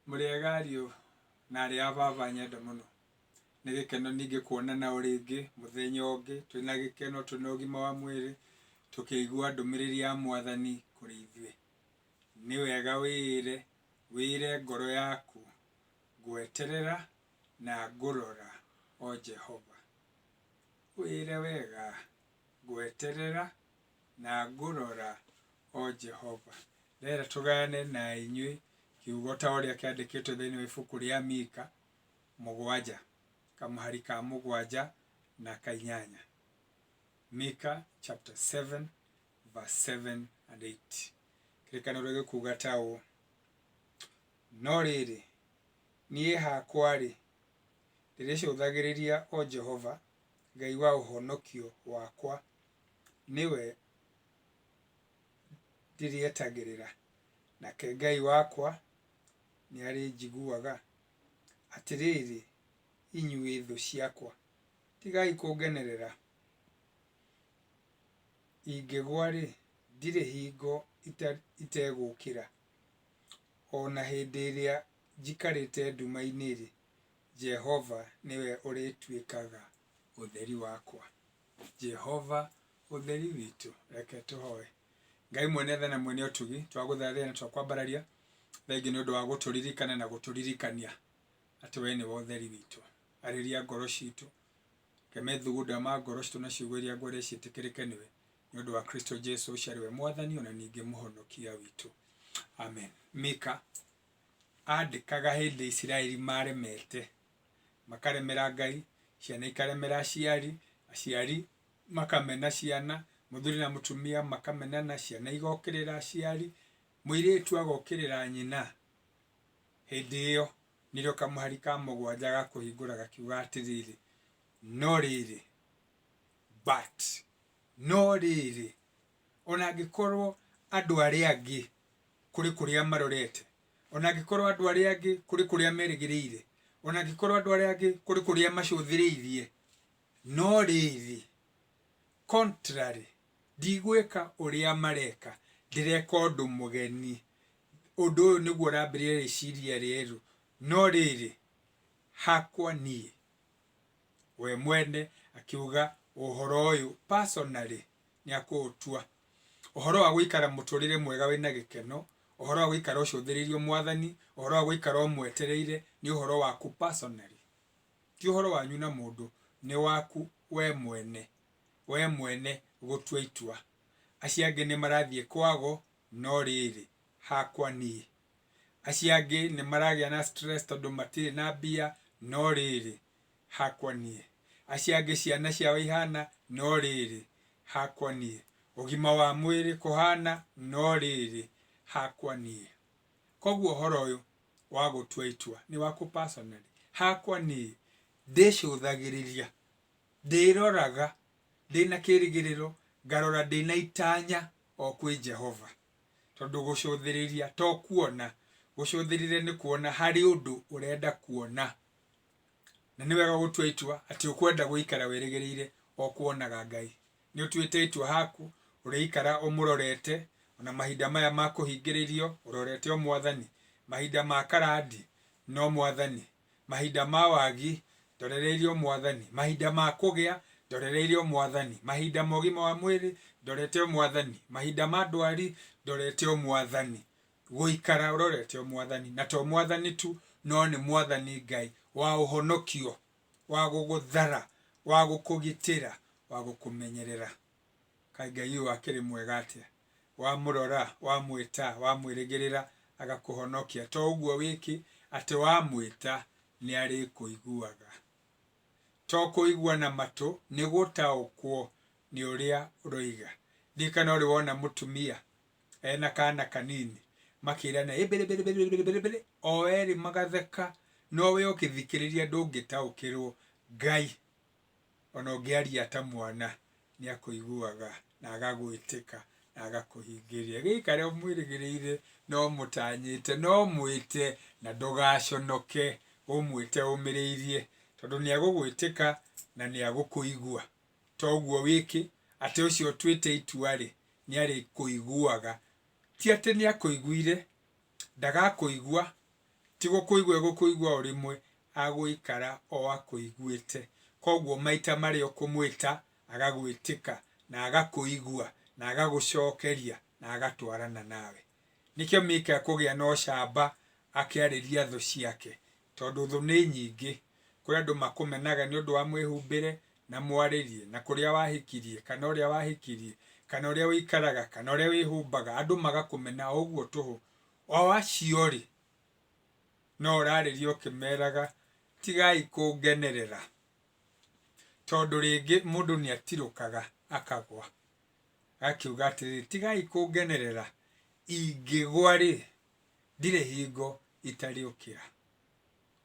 Mũrĩega ariũ na aarĩ a baba nyenda mũno. Nĩ gĩkeno ningĩ kuonana o rĩngĩ mũthenya ũngĩ twĩ na gĩkeno, twĩ na ũgima wa mwĩrĩ, tũkĩigua ndũmĩrĩri ya Mwathani kũrĩ ithuĩ. Nĩ wega wĩĩre, wĩĩre ngoro yaku, Ngweterera na ngũrora, O Jehova. Wĩĩre wega, Ngweterera Na ngũrora, O Jehova. Ndĩrenda tũgayane na inyuĩ kiugo ta ũrĩa kĩandĩkĩtwo thĩinĩ wa ibuku rĩa Mika mũgwanja, kamũhari ka mũgwanja na ka inyanya. Mika chapter 7 verse 7 and 8. Kĩrĩkanĩro gĩkuuga ta ũũ, No rĩrĩ, niĩ hakwa-rĩ, ndĩrĩcũthagĩrĩria o Jehova, Ngai wa ũhonokio wakwa, nĩwe ndĩrĩetagĩrĩra, nake Ngai wakwa nĩarĩnjiguaga. Atĩrĩrĩ, inyuĩ thũ ciakwa, tigai kũngenerera. Ingĩgwa-rĩ, ndirĩ hingo itegũũkĩra, o na hĩndĩ ĩrĩa njikarĩte nduma-inĩ-rĩ, Jehova nĩwe ũrĩtuĩkaga ũtheri wakwa. Jehova ũtheri witũ reke tũhoe. Ngai mwene tha na mwene ũtugi twagũthathĩa na twakwambararia thengiũ nĩ ũndũ wa gũtũririkana na gũtũririkania atĩ we nĩwe ũtheri witũ. Arĩria ngoro citũ, ke methugunda ma ngoro citũ na ciugo iria ngwere ciĩtĩkĩrĩke nĩwe nĩ ũndũ wa Kristo Jesu ũcio arĩ we mwathani ona ningĩ mũhonokia witũ. Amen. Mika andĩkaga hĩndĩ Isiraeli maremete makaremera Ngai, ciana ikaremera aciari, aciari makamena ciana, mũthuri na mũtumia makamenana, ciana igokĩrĩra aciari, mũirĩtu agokĩrĩra nyina, hĩndĩ ĩyo nĩrĩo kamũhari ka mũgwanja gakũhingũra gakiuga atĩrĩrĩ, no rĩrĩ, but, no rĩrĩ, ona angĩkorwo andũ arĩa angĩ kũrĩ kũrĩa marorete O na angĩkorwo andũ arĩa angĩ kũrĩ kũrĩa merĩgĩrĩire, o na angĩkorwo andũ arĩa angĩ kũrĩ kũrĩa macũthĩrĩirie, no rĩrĩ, contrary, ndigwĩka ũrĩa mareka, ndĩreka ũndũ mũgeni. Ũndũ ũyũ nĩguo ũrambĩrĩria rĩciria rĩerũ, no rĩrĩ, hakwa niĩ. We mwene akiuga ũhoro ũyũ personally nĩ akũũtua. Ũhoro wa gũikara mũtũrĩre mwega wĩna gĩkeno, ũhoro wa gũikara ũcũthĩrĩirio mwathani, ũhoro wa gũikara ũmwetereire nĩ ũhoro waku personally. Ti ũhoro wanyu na mũndũ, nĩ waku we mwene, we mwene gũtua itua. Acio angĩ nĩ marathiĩ kwago, no rĩrĩ, hakwa niĩ. Acio angĩ nĩ maragĩa na stress tondũ matirĩ na mbia, no rĩrĩ, hakwa niĩ. Acio angĩ ciana ciao ihaana, no rĩĩrĩ, hakwa niĩ. Ũgima wa mwĩrĩ kũhaana, no rĩĩrĩ, hakwa niĩ. Kwoguo ũhoro ũyũ wa gũtua itua nĩ waku personally. Hakwa niĩ, ndĩcũthagĩrĩria, ndĩroraga ndĩ na kĩĩrĩgĩrĩro, ngarora ndĩ na itanya o kwĩ Jehova. Tondũ gũcũthĩrĩria to kuona. Gũcũthĩrĩria nĩ kuona harĩ ũndũ ũrenda kuona. Na nĩ wega gũtua itua atĩ ũkwenda gũikara wĩrĩgĩrĩire o kuonaga Ngai. Nĩ ũtuĩte itua haku ũrĩikara ũmũrorete o na mahinda maya ma kũhingĩrĩrio ũrorete o Mwathani? Mahinda ma karandi, no Mwathani. Mahinda ma wagi, ndorereire o Mwathani. Mahinda ma kũgĩa, ndorereire o Mwathani. Mahinda ma ũgima wa mwĩrĩ, ndorete o Mwathani. Mahinda ma ndwari, ndorete o Mwathani. gũikara ũrorete o Mwathani, na to Mwathani tu, no nĩ Mwathani Ngai wa ũhonokio, wa gũgũthara, wa gũkũgitĩra, wa gũkũmenyerera. Kaĩ Ngai ũyũ akĩrĩ mwega atĩa! Wamũrora, wamwĩta, wamwĩrĩgĩrĩra, agakũhonokia. To ũguo wĩkĩ, atĩ wamwĩta, nĩ arĩkũiguaga. To kũigua na matũ, nĩ gũtaũkwo nĩ ũrĩa ũroiga. Ndirikana ũrĩ wona mũtumia e na kaana kanini makĩĩrana ĩbĩrĩbĩrĩbĩrĩbĩrĩbĩrĩ o erĩ magatheka no we ũkĩthikĩrĩria ndũngĩtaũkĩrwo Ngai ona ũngĩaria ta mwana nĩakũiguaga na agagwĩtĩka na agakũhingĩria gĩikare ũmwĩrĩgĩrĩire na ũmũtanyĩte na ũmwĩte na ndũgaconoke ũmwĩte ũmĩrĩirie tondũ nĩagũgwĩtĩka na nĩagũkũigua. To ũguo wĩkĩ, atĩ ũcio ũtuĩte itua-rĩ, nĩarĩkũiguaga. Ti atĩ nĩakũiguire, ndagakũigua, ti gũkũigua egũkũigua o rĩmwe, agũikara o akũiguĩte. Koguo maita marĩa ũkũmwĩta, agagwĩtĩka, na agakũigua, na agagũcokeria, na agatwarana nawe. Nĩkĩo Mika ekũgĩa na ũcamba akĩarĩria thũ ciake, Tondũ thũ nĩ nyingĩ. Kũrĩ andũ makũmenaga nĩ ũndũ wa mwĩhumbĩre na mwarĩrie, na kũrĩa wahikirie, kana ũrĩa wahikirie, kana ũrĩa ũikaraga, kana ũrĩa wĩhumbaga, andũ magakũmena o ũguo tũhũ. O acio-rĩ, no ũrarĩria ũkĩmeraga, Tigai kũngenerera, tondũ rĩngĩ mũndũ nĩ atirũkaga akagwa. Agakiuga atĩrĩrĩ, Tigai kũngenerera, ingĩgwa-rĩ, ndirĩ hingo itarĩũkĩra.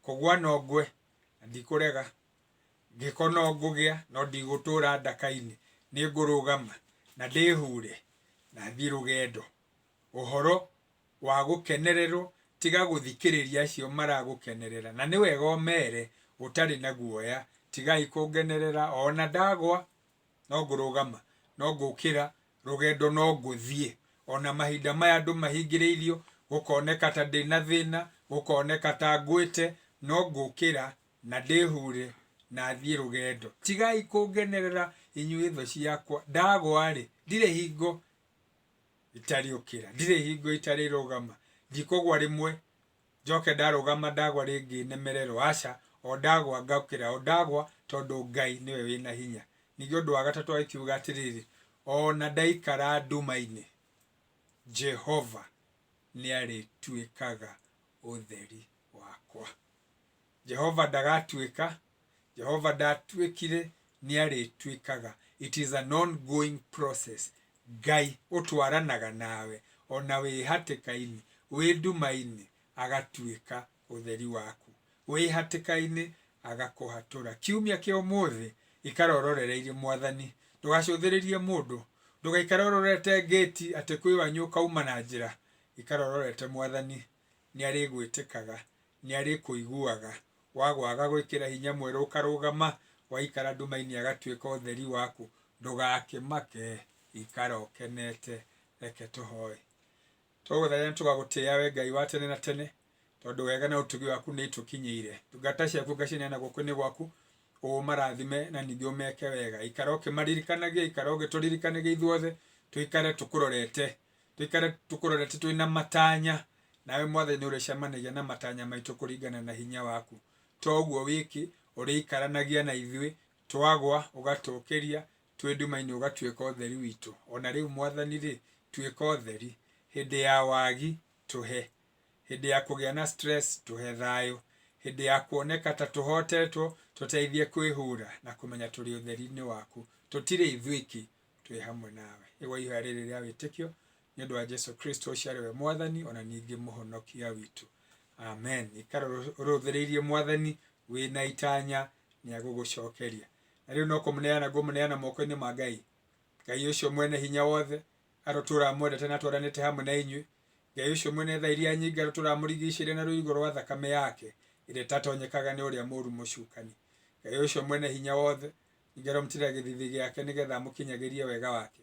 Kũgwa no ngwe na ndikũrega, gĩko no ngũgĩa no ndigũtũra ndaka-inĩ, nĩ ngũrũgama na ndĩhure na thiĩ rũgendo. Ũhoro wa gũkenererwo tiga gũthikĩrĩria acio maragũkenerera, na nĩ wega ũmere ũtarĩ na guoya, tigai kũngenerera o na ndagwa no ngũrũgama, no ngũkĩra, rũgendo no ngũthiĩ. O na mahinda maya andũ mahingĩrĩirio, gũkoneka ta ndĩ na thĩna, gũkoneka ta ngwĩte, no ngũkĩra na ndĩhure na thiĩ rũgendo. Tigai kũngenerera inyuĩ thũ ciakwa, ndagwa-rĩ, ndirĩ hingo itarĩũkĩra, ndirĩ hingo itarĩrũgama, ndikũgwa rĩmwe. njoke ndarũgama ndagwa rĩngĩ nemererwo, aca, o ndagwa ngaũkĩra, o ndagwa, tondũ Ngai nĩwe wĩ na hinya. Ningĩ ũndũ wa gatatũ agĩkiuga atĩrĩrĩ, o na ndaikara nduma-inĩ, Jehova nĩarĩtuĩkaga ũtheri wakwa. Jehova ndagatuĩka, Jehova ndatuĩkire, nĩ arĩtuĩkaga. It is an ongoing process. Ngai ũtwaranaga nawe o na wĩ hatĩka-inĩ, wĩ nduma-inĩ, agatuĩka ũtheri waku. Wĩ hatĩka-inĩ, agakũhatũra. Kiumia kĩa ũmũthĩ, ikara ũrorereirie Mwathani. Ndũgacũthĩrĩrie mũndũ. Ndũgaikare ũrorete ngĩti atĩ kwĩ wanyu ũkauma na njĩra. Ikara ũrorete Mwathani. nĩarĩgwĩtĩkaga, nĩarĩkũiguaga, wagwa agagwĩkĩra hinya mwerũ ũkarũgama, waikara nduma-inĩ agatuĩka ũtheri waku, ndũgakĩmake, ikara ũkenete, reke tũhoe. Tũgũthaitha na tũgagũtĩĩa we Ngai wa tene na tene, tondũ wega na ũtugi waku nĩitũkinyĩire. Ndungata ciaku ngacineana guoko-inĩ gwaku, ũmarathime na ningĩ ũmeke wega, ikara ũkĩmaririkanagia, ikara ũgĩtũririkanagia ithuothe, tũikare tũkũrorete, Tũikare tũkũrorete twĩ na matanya, nawe Mwathani nĩ ũrĩcemanagia na matanya maitũ kũringana na hinya waku. To ũguo wiki, ũrĩikaranagia na ithuĩ, twagwa ũgatũũkĩria, twĩ nduma-inĩ ũgatuĩka ũtheri witũ. O na rĩu Mwathani-rĩ, tuĩka ũtheri. Hĩndĩ ya wagi, tũhe. Hĩndĩ ya kũgĩa na stress, tũhe thayũ. Hĩndĩ ya kuoneka ta tũhotetwo, tũteithie kwĩhura na kũmenya tũrĩ ũtheri-inĩ waku. Tũtirĩ ithuiki, twĩ hamwe nawe. Igua ihoya rĩrĩ rĩa wĩtĩkio nĩ ũndũ wa Jesu Kristo ũcio arĩ we mwathani ona ningĩ mũhonokia witũ. Amen. Ikara ũrũthĩrĩirie mwathani wĩ na itanya nĩ agũgũcokeria. Na rĩu no kũmũneana ngũmũneana moko-inĩ ma Ngai. Ngai ũcio mwene hinya wothe arotũra amwendete na atwaranĩte hamwe na inyuĩ Ngai ũcio mwene tha iria nyinga tũramũrigicĩire na rũirigo rwa thakame yake ĩrĩa ĩtatonyekaga nĩ ũrĩa mũru mũcukani. Ngai ũcio mwene hinya wothe nyinga tũramũtirĩra gĩthithi gĩake nĩgetha amũkinyagĩrie wega wake.